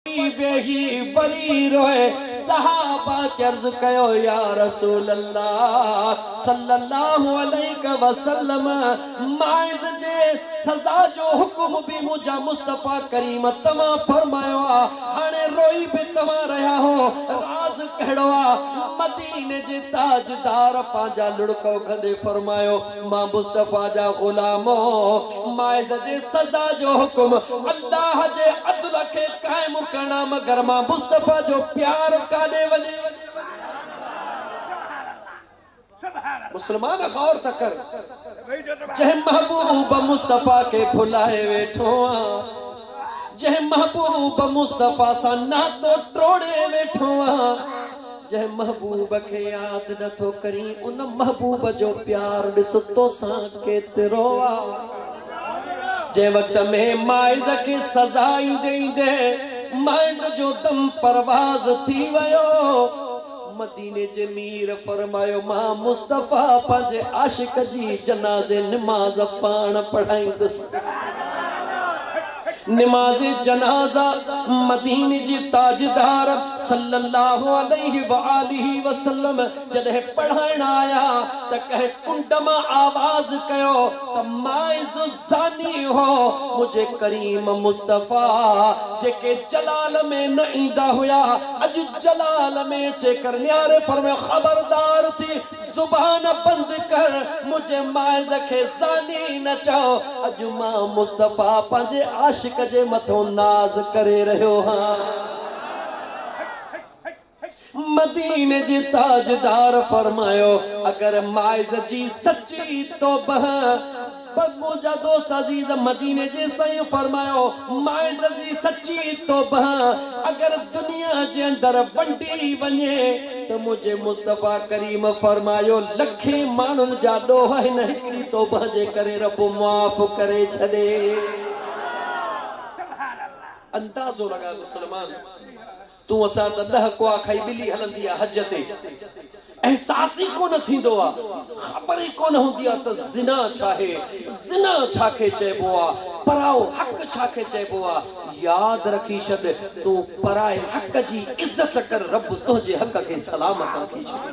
اتي ويهي وري روئي صحابه چرز ڪيو يا رسول الله صلّي الله عليه وسلّم مائز جي سزا جو حڪم به منهنجا مصطفٰي ڪريم توهان فرمايو آ هاڻي روئي به توهان رهيا هو راز ڪهڙو آ مديني جي تاجدار پنهنجا لڙڪ اگهندي فرمايو مان مصطفيٰ جا غلام مائز جي سزا جو حڪم الله جي عدل کي قائم ڪرڻ آ مگر مان مصطفيٰ جو پيار ڪاڏي وڃي مسلمان غور ته ڪر جنهن محبوب مصطفيٰ کي ڀلائي ويٺو آ جنهن محبوب مصطفيٰ سان ناتو ٽوڙي ويٺو آ. جنهن محبوب کي ياد نه ٿو ڪرين ان محبوب جو پيار ڏس توسان ڪيترو آ جنهن وقت ۾ مائز کي سزا ايندي ايندي مائز جو دم پرواز ٿي ويو مديني جي مير فرمايو مان مصطفيٰ پنهنجي عاشق جي جنازي نماز پاڻ پڙهائيندس. نماز جنازه مديني جي تاجدار صلّي الله عليه واٰله وسلّم جڏهن پڙهائڻ آيا ته ڪنهن ڪنڊ مان آواز ڪيو ته ماعز زاني هو منهنجي ڪريم مصطفيٰ جيڪي جلال ۾ نه ايندا هيا اڄ جلال ۾ اچي ڪرنياري فرمايو خبردار ٿي زبان بند ڪر منهنجي مائز کي زاني نه چئو اڄ مان مصطفيٰ پنهنجي عاشق جي مٿون ناز ڪري رهيو هان. مديني جي تاجدار فرمايو اگر مائز جي سچي توبه پر منهنجا دوست عزيز مديني جي سائين فرمايو، مائززي سچي توبه اگر دنيا جي اندر ونڊي وڃي ته منهنجي مصطفيٰ ڪريم فرمايو لکين ماڻهن جا ڏوهه هن هڪڙي توبه جي ڪري رب معاف ڪري ڇڏي. اندازو لڳاء مسلمان! تون اسان ته ڏهه ڪوئا کائي ٻلي هلندي آ حج تي احساس ئي ڪونه ٿيندو آ خبر ئي ڪونه هوندي آ ته زنا ڇاهي زنا ڇاکي چئبو آ پرائو حق ڇاکي چئبو آ ياد رکي ڇڏ تون پرائي حق جي عزت ڪر رب تنهنجي حق کي سلامت رکي ڇڏي.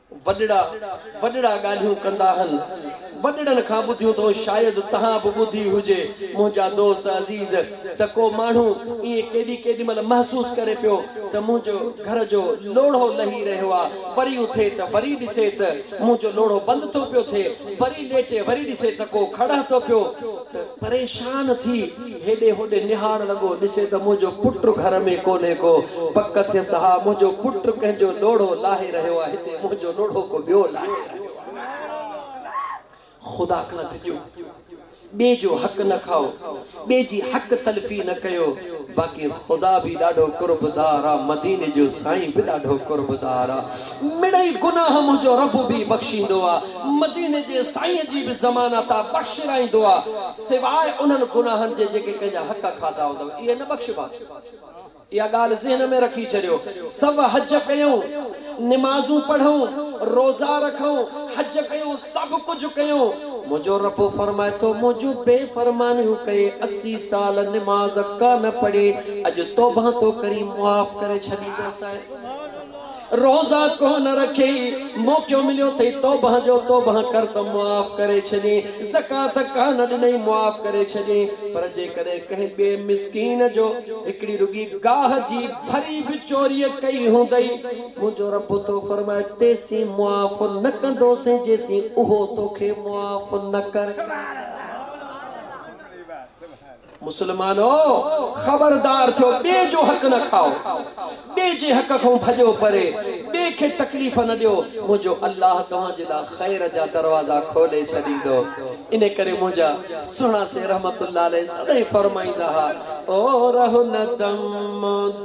وڏڙا وڏڙا ڳالهيون ڪندا هن. وڏڙن کان ٻڌيون ٿو شايد تهان به ٻڌي هجي منهنجا دوست عزيز ته ڪو ماڻهو ائين ڪيڏي ڪيڏي مهل محسوس ڪري پيو ته منهنجو گهر جو لوڙهو لهي رهيو آ وري اٿي ته وري ڏسي ته منهنجو لوڙهو بند ٿو پيو ٿئي وري ليٽي وري ڏسي ته ڪو کڙهه ٿو پيو ته پريشان ٿي هيڏي هوڏي نهاڻ لڳو، ڏسي ته منهنجو پٽ گهر ۾ ڪونهي ڪو. پڪ ٿيس ها، منهنجو پٽ ڪنهن جو لوڙهو لاهي رهيو آهي، هتي منهنجو لوڙهو ڪو ٻيو لاهي رهيو آهي. خدا کان ڊڄو، ٻئي جو حق نه کائو، ٻئي جي حق تلفي نه ڪيو، باقي خدا به ڏاڍو قربدار آ، مديني جو سائين به ڏاڍو قربدار آ، مڙئي گناهه منهنجو رب به بخشيندو آ، مديني جي سائين جي به زمانه تان بخشرائيندو آ. سواء انهن گناهن جي جيڪي ڪنهن جا حق کاڌا هوندؤ، اهي نه بخشبا. اها ڳالهه ذهن ۾ رکي ڇڏيو. سڀ حج ڪيون، نمازون پڙهون، روزا رکون، حج ڪيون، سڀ ڪجهه ڪيون. منهنجو رب فرمائي ٿو، مون جون بي فرمانيون ڪئي، اسي سال نماز ڪانه پڙهي، اڄ توبهان ٿو ڪرين، معاف ڪري ڇڏيندوسانء. روزا ڪونه رکي، موقعو مليو ٿئي توبهه جو، توبهه ڪر ته معاف ڪري ڇڏين، زڪوات ڪانه ڏنئي معاف ڪري ڇڏين، پر جيڪڏهن ڪنهن ٻئي مسڪين جو هڪڙي رڳي گاهه جي ڀري به چوريء ڪئي هوندئي، منهنجو رب ٿو فرمائي، تيسين معاف نه ڪندوسين جيسين اهو توکي معاف نه ڪري. مسلمانو! خبردار ٿيو، ٻئي جو حق نه کائو، ٻئي جي حق کان ڀڄو پري، ٻئي کي تڪليف نه ڏيو، منهنجو الله توهان جي لاء خير جا دروازا کولي ڇڏيندو. ان ڪري منهنجا سهڻا سين رحمة الله عليه سدائين فرمائيندا ها، او رهه نه دم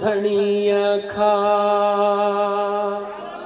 ڌڻيء کان!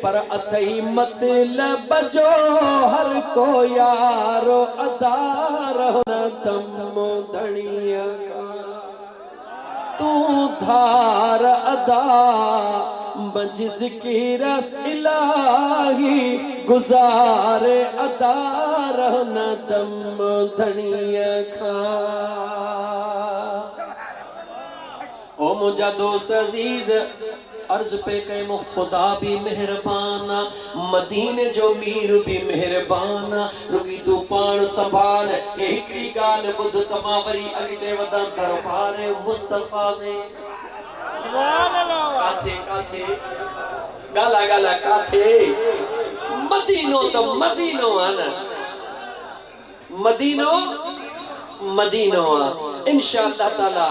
پر اٿئي مطلب جو هر ڪو يار ادا رهو نه تم ڌڻيء کان تون ڌار ادا منجهه ذڪر الاهي گذار ادا رهو نه تم ڌڻيء کان او منهنجا دوست عزيز! عرض پئي ڪيم خدا به مهربان آ، مديني جو مير به مهربان آ، رڳي تون پاڻ سنڀال ۽ هڪڙي ڳالهه ٻڌ ته مان وري اڳتي وڌان دربار مصطفيٰ ۾. ڪاٿي ڪاٿي؟ ڳالهاء ڳالهاء ڪاٿي؟ مدينو ته مدينو آ نه. مدينو مدينو آ انشاء الله تعالي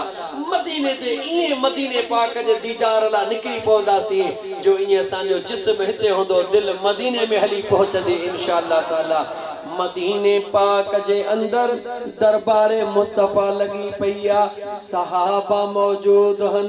مديني تي ائين مديني پاڪ جي ديدار لا نڪري پونداسين جو ائين اسان جو جسم هتي هوندو دل مديني ۾ هلي پهچندي انشاء الله تعالي مديني پاڪ جي اندر دربار مصطفي لڳي پئي آ صحابه موجود هن.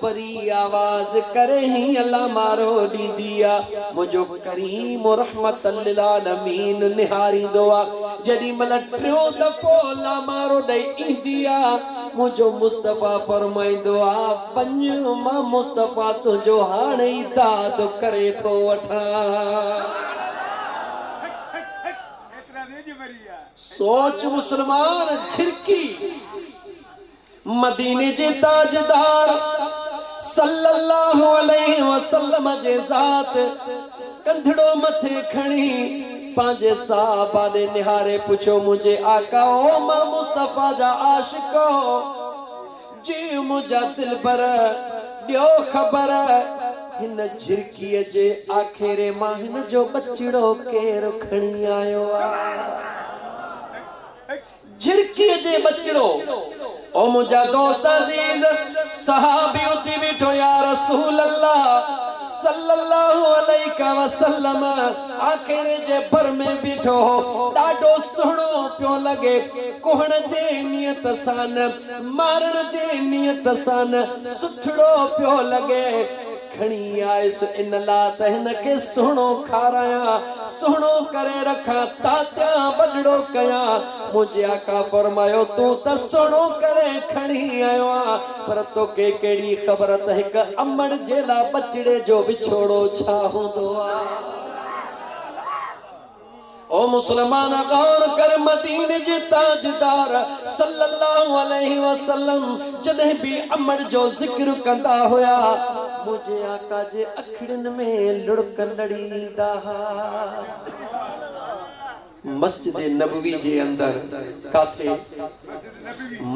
پري آواز ڪري هينئن لامارو ڏيندي آ، منهنجو ڪريم و رحمت للعالمين نهاريندو آ، جيڏي مهل ٽيون دفعو لامارو ڏئي ايندي آ، منهنجو مصطفيٰ فرمائيندو آ، وڃ مان مصطفيٰ تنهنجو هاڻ ئي داد ڪري ٿو وٺان. سوچ مسلمان جهرڪي. مديني جي تاجدار صلّي اللّٰه عليه وسلّم جي ذات ڪنڌڙو مٿي کڻي پنهنجي صحابه ڏي نهاري پڇيو، منهنجي آقا او مه مصطفيٰ جا عاشقو! جي منهنجا دلبر! ڏيو خبر! هن جهرڪيء جي آکيري مان هن جو ٻچڙو ڪير کڻي آيو آ؟ جھرڪيء جي ٻچڙو، او منھنجا دوست عزيز! صحابي اٿي بيٺو، يا رسول الله صلّي الله عليك وسلّم آکيري جي ڀر ۾ بيٺو هو، ڏاڍو سهڻو پيو لڳي، ڪهڻ جي نيت سان نه، مارڻ جي نيت سان نه، سٺڙو پيو لڳي. کڻي آيس ان لا ته هن کي سهڻو کارايان، سهڻو ڪري رکان، تاتيان، وڏڙو ڪيان. منهنجي آقا فرمايو، تون ته سهڻو ڪري کڻي آيو آهين، پر توکي ڪهڙي خبر ته هڪ امڙ جي لا ٻچڙي جو وڇوڙو ڇا هوندو آهي. او مسلمان غور ڪر مديني جي تاجدار صلّي اللّٰه عليه وسلّم جڏهن به امڙ جو ذڪر ڪندا هيا منهنجي آقا جي اکڙين ۾ لڙڪ لڙي ايندا ها. مسجد نبوي جي اندر ڪاٿي؟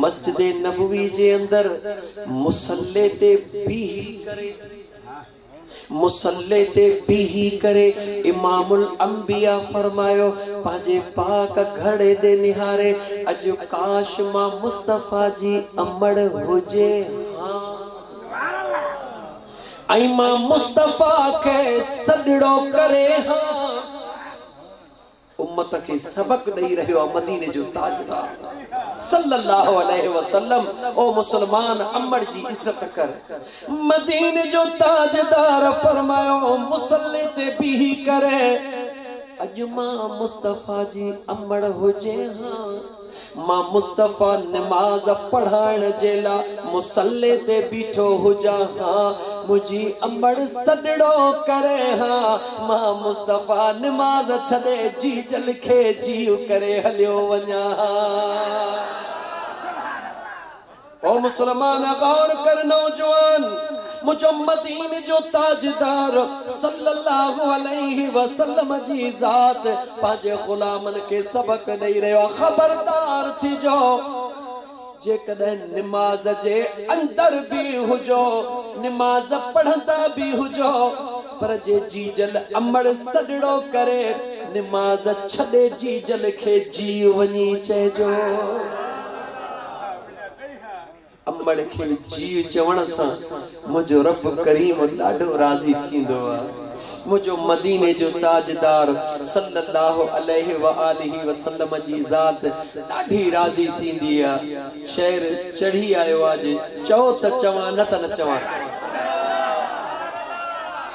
مسجد نبوي جي اندر مصلي تي بيهي ڪري. مصلي تي بيهي ڪري امام الانبياء فرمايو، پنهنجي پاڪ گهڙي ڏي نهاري، اڄ ڪاش مان مصطفيٰ جي امڙ هجي ها. ۽ مان مصطفيٰ کي سڏڙو ڪري ها. امت کي سبق ڏئي رهيو آ مديني جو تاجدار صلّي اللّٰه عليه وسلّم او مسلمان امڙ جي عزت ڪر مديني جو تاجدار فرمايو مصلّي تي بيهي ڪر اڄ مان مصطفيٰ جي امڙ هجي ها. مان مصطفيٰ نماز پڙهائڻ جي لاء مصلي تي بيٺو هجان ها، منهنجي امڙ سڏڙو ڪري ها، مان مصطفيٰ نماز ڇڏي جيجل کي جيء ڪري هليو وڃان ها. او مسلمان غور ڪر نوجوان مجمدين جو تاجدار صلّي اللّٰه عليه وسلّم جي ذات پنهنجي غلامن کي سبق ڏئي رهيو آهي خبردار ٿجو جيڪڏهن نماز جي اندر به هجو نماز پڙهندا به هجو پر جي جيجل امڙ سڏڙو ڪري نماز ڇڏي جيجل کي جي وڃي چئجو. امڙ کي جيء چوڻ سان منهنجو رب ڪريم ڏاڍو راضي ٿيندو آ. منهنجو مديني جو تاجدار صلّي اللّٰه عليه واٰله وسلّم جي ذات ڏاڍي راضي ٿيندي آ. شعر چڙهي آيو آ جي چئو ته چوان نه ته نه چوان.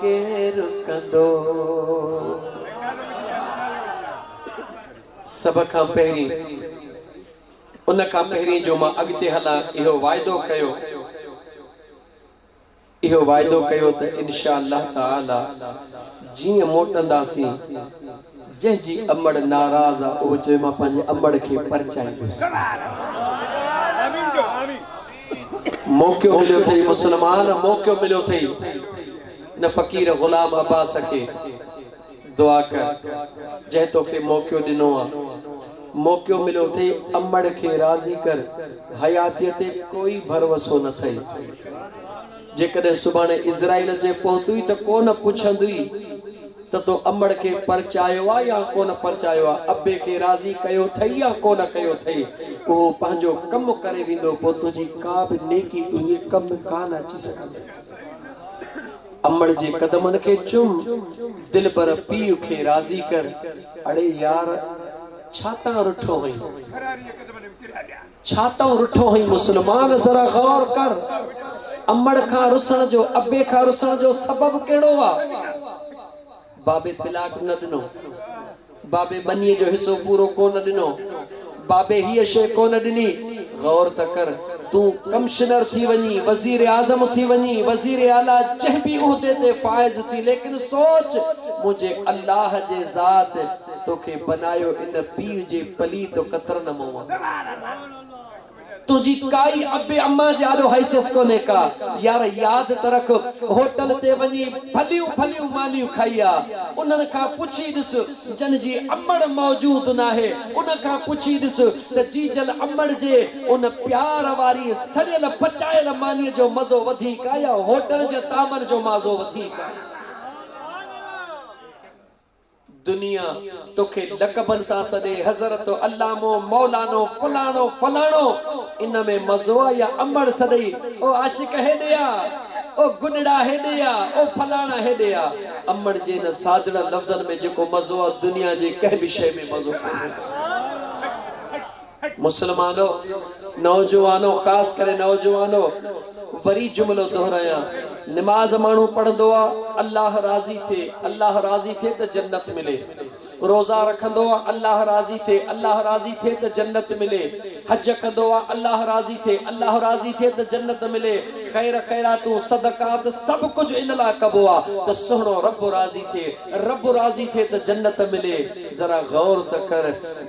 ڪير ڪندو؟ سڀ کان پهرين ان کان پهرين جو مان اڳتي هلان اهو واعدو ڪيو اهو واعدو ڪيو ته انشاء الله تعالي جيئن موٽنداسين جنهن جي امڙ ناراض آ اهو چوي مان پنهنجي امڙ کي پرچائيندس. موقعو مليو اٿئي مسلمان موقعو مليو اٿئي ان فقير غلام عباس کي دعا ڪر جنهن توکي موقعو ڏنو آ موقعو مليو اٿئي امڙ کي راضي ڪر حياتيء تي ڪوئي ڀروسو نه اٿئي جيڪڏهن سڀاڻي اسرائيل اچي پهتوئي ته ڪو نه پڇندوئي. ته تو امڙ کي پرچايو آ يا ڪونه پرچايو آ، ابي کي راضي ڪيو ٿئي يا ڪونه ڪيو ٿئي، اهو پنهنجو ڪم ڪري ويندو، پوء تنهنجي ڪا به نيڪي تنهنجي ڪم ۾ ڪانه اچي سگهندي. امڙ جي قدمن کي چم، دلبر پيء کي راضي ڪر. اڙي يار! ڇا تان رٺو هئين؟ ڇا تون رٺو هئين مسلمان ذرا غور ڪر امڙ کان رسڻ جو ابي کان رسڻ جو سبب ڪهڙو آ بابي پلاٽ نه ڏنو بابي ٻني جو حصو پورو ڪونه ڏنو بابي هيء شي ڪونه ڏني غور ته ڪر تون ڪمشنر ٿي وڃي وزير اعظم ٿي وڃي وزير اعليٰ جنهن به عهدي تي فائز ٿي ليڪن سوچ منهنجي الله جي ذات توکي بنايو ان پيء جي پليت و قطرن مئون. تنهنجي ڪائي ابي امان جي آڏو حيثيت ڪونهي ڪا. يار ياد ته رک هوٽل تي وڃي ڀليون ڀليون مانيون کائي آ. انهن کان پڇي ڏس جن جي امڙ موجود ناهي ان کان پڇي ڏس ته جيجل امڙ جي ان پيار واري سڙيل پچايل مانيء جو مزو وڌيڪ آ يا هوٽل جي طعمن جو مازو وڌيڪ آ. دنيا توکي لقبن سان سڏي حضرت علامو مولانو فلاڻو فلاڻو ان ۾ مزو آ يا امڙ سڏئي او عاشق هيڏي آ او گڏڙا هيڏي آ او فلاڻا هيڏي آ امڙ جي ان سادڙن لفظن ۾ جيڪو مزو آ دنيا جي ڪنهن به شيء ۾ مزو ڪونهي. مسلمانو، نوجوانو، خاص ڪري نوجوانو، وري جملو دهرايان، نماز ماڻهو پڙهندو آ، الله راضي ٿئي، الله راضي ٿئي ته جنت ملي. روزا رکندو آ، الله راضي ٿئي، الله راضي ٿئي ته جنت ملي. حج ڪندو آ، الله راضي ٿئي، الله راضي ٿئي ته جنت ملي. خير خيراتون، صدقات، سڀ ڪجهه ان لاء ڪبو آ ته سهڻو رب راضي ٿئي. رب راضي ٿئي ته جنت ملي، ذرا غور ته ڪر،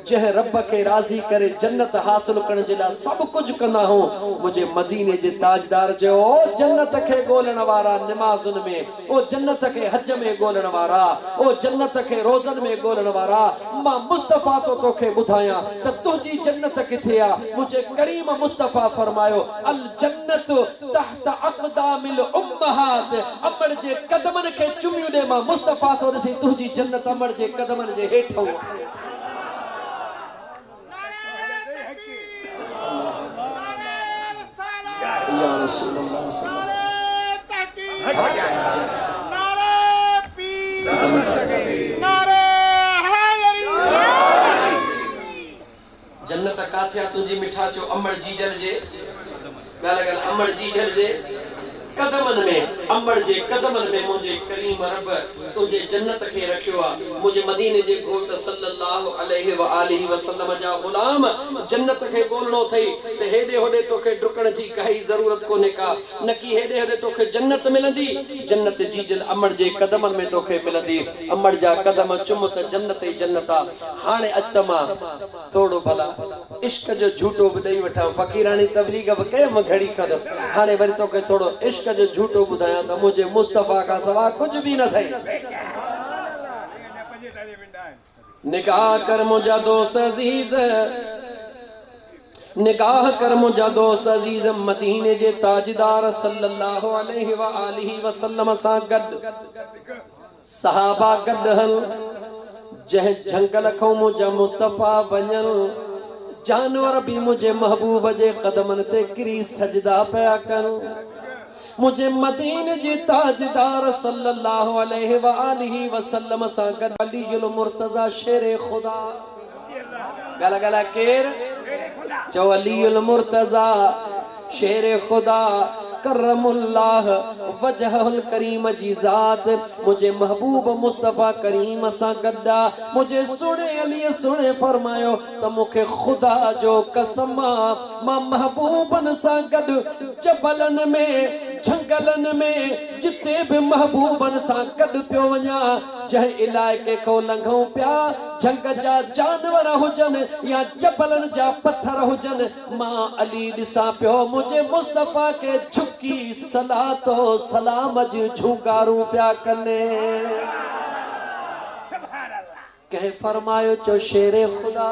جنهن رب کي راضي ڪري جنت حاصل ڪرڻ جي لاء سڀ ڪجهه ڪندا هئون، منهنجي مديني جي تاجدار چيو، او جنت کي ڳولڻ وارا نمازن ۾، او جنت کي حج ۾ ڳولڻ وارا، او جنت کي روزن ۾ ڳولڻ وارا، مان مصطفيٰ ٿو توکي ٻڌايان ته تنهنجي جنت ڪٿي آ، منهنجي ڪريم مصطفيٰ فرمايو، الجنة تحت. ته اقدام الامهات امڙ جي قدمن کي چميون ڏي مان مصطفيٰ ٿو ڏسين تنهنجي جنت امڙ جي قدمن جي هيٺئون آهي. جنت ڪاٿي آ تنهنجي مٺا چو امڙ جيجل جي ڳالهه ڳالهه امڙ جيجل جي قدمن ۾ امڙ جي قدمن ۾ منهنجي ڪريم رب تنهنجي جنت کي رکيو آ منهنجي مديني جي گهوٽ صلّي اللّٰه عليه واٰله وسلّم جا غلام جنت کي ڳولڻو اٿئي ته هيڏي هوڏي توکي ڊڪڻ جي ڪائي ضرورت ڪونهي ڪا نڪي هيڏي هوڏي توکي جنت ملندي جنت جيجل امڙ جي قدمن ۾ توکي ملندي امڙ جا قدم چم ته جنت ئي جنت آ هاڻي اچ ته مان توڙو ڀلا عشق جو جهوٽو به ڏئي وٺان فقيراڻي تبليغ به ڪيم گهڙي کن هاڻي وري توکي ٿورو عشق جو جهوٽو ٻڌايان ته منهنجي مصطفيٰ کان سواء ڪجهه به نه اٿئي. نگاهه ڪر منهنجا دوست عزيز نگاهه ڪر منهنجا دوست عزيز مديني جي تاجدار صلّي اللّٰه عليه واٰله وسلّم سان گڏ صحابه گڏ هن، جنهن جهنگل کئون منهنجا مصطفيٰ وڃن، جانور به منهنجي محبوب جي قدمن تي ڪري سجدا پيا ڪن. منهنجي مديني جي تاجدار صلّي اللّٰه عليه واٰله وسلّم سان گڏ علي المرتضٰي شير خدا. ڳالهه ڳالهه ڪير چئو علي المرتضيٰ شير خدا ڪرم الله وجهه الڪريم جي ذات منهنجي محبوب مصطفيٰ ڪريم سان گڏ آ منهنجي سهڻي علي سهڻي فرمايو ته مون کي خدا جو قسم آ مان محبوبن سان گڏ جبلن ۾ جهنگلن ۾ جتي به محبوبن سان گڏ پيو وڃان جنهن علائقي کان لنگهون پيا، جهنگ جا جانور هجن يا جبلن جا پٿر هجن، مان علي ڏسان پيو، منهنجي مصطفيٰ کي جهڪي صلات و سلام جون جهونگارون پيا ڪن. ڪنهن فرمايو چو شير خدا!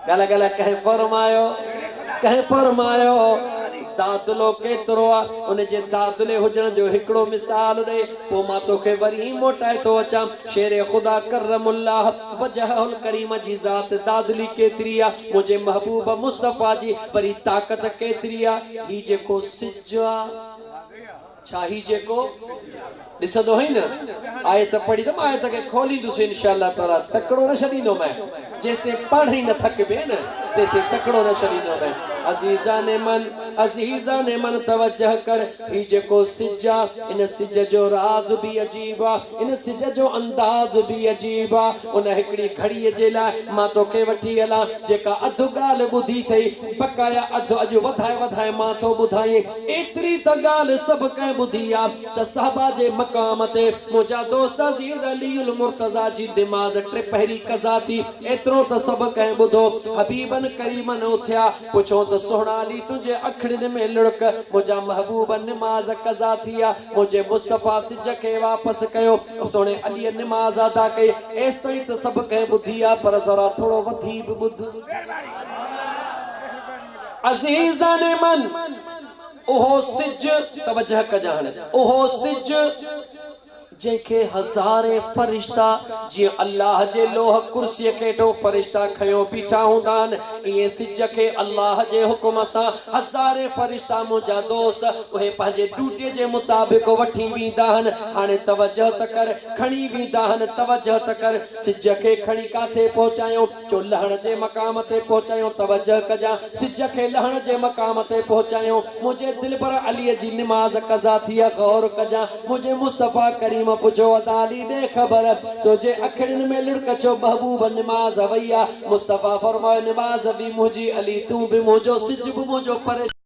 ڳالهه ڳالهه ڪنهن فرمايو، ڪنهن فرمايو، دادلو ڪيترو آ؟ ان جي دادلي هجڻ جو هڪڙو مثال ڏئي، پوء مان توکي وري موٽائي ٿو اچان. شير خدا ڪرم الله وجهه الڪريم جي ذات دادلي ڪيتري آ؟ منهنجي محبوب مصطفيٰ جي وري طاقت ڪيتري آ؟ هي جيڪو سج آ. ڇا هي جيڪو ڏسندو هئين نه آيت پڙهي ته مان آيت کي کوليندس ان شاء الله تعالي تڪڙو نه ڇڏيندو مين جيستائين پڙهه ئي نه ٿڪبين نه تيستائين تڪڙو نه ڇڏيندو مين عزيزان من عزيزان من توجه ڪر هي جيڪو سج آ ان سج جو راز به عجيب آ ان سج جو انداز به عجيب آ ان هڪڙي گهڙي جي لاء مان توکي وٺي هلان جيڪا اڌ ڳالهه ٻڌي ٿئي بقايا اڌ اڄ وڌائي وڌائي مان ٿو ٻڌائين ايتري ته ڳالهه سڀ ڪنهن ٻڌي آ ته صحبا جي مقام تي منهنجا دوست عزيز علي المرتضيٰ جي نماز ٽي پهري قضا ٿي، ايترو ته سڀ ڪنهن ٻڌو. حبيبن ڪريمن اٿيا، پڇيو ته سهڻا علي تنهنجي اکڙين ۾ لڙڪ، منهنجا محبوب نماز قضا ٿي آ، منهنجي مصطفيٰ سج کي واپس ڪيو، سهڻي عليء نماز ادا ڪئي، ايستائين ته سڀ ڪنهن ٻڌي آ پر ذرا ٿورو وڌي به ٻڌ. عزيزان من! اهو سج، توجهه ڪجان هاڻي، اهو سج جنهن کي هزارين فرشتا جيئن الله جي لوح ڪرسيء کي هيٺون فرشتا کنيو بيٺا هوندا آهن، ائين سج کي الله جي حڪم سان هزارين فرشتا منهنجا دوست اهي پنهنجي ڊيوٽيء جي مطابق وٺي ويندا آهن. هاڻي توجهه ته ڪر، کڻي ويندا آهن، توجهه ته ڪر، سج کي کڻي ڪاٿي پهچايون؟ جو لهڻ جي مقام تي پهچايون توجه ڪجان سج کي لهڻ جي مقام تي پهچايون منهنجي دلبر علي جي نماز قضا ٿي غور ڪجان منهنجي مصطفيٰ ڪريم پڇيو ادا علي ڏي خبر تنهنجي اکڙين ۾ لڙڪ ڇو محبوب نماز وئي آ مصطفيٰ فرمايو نماز به منهنجي علي تون به منهنجو سج به منهنجو پريشان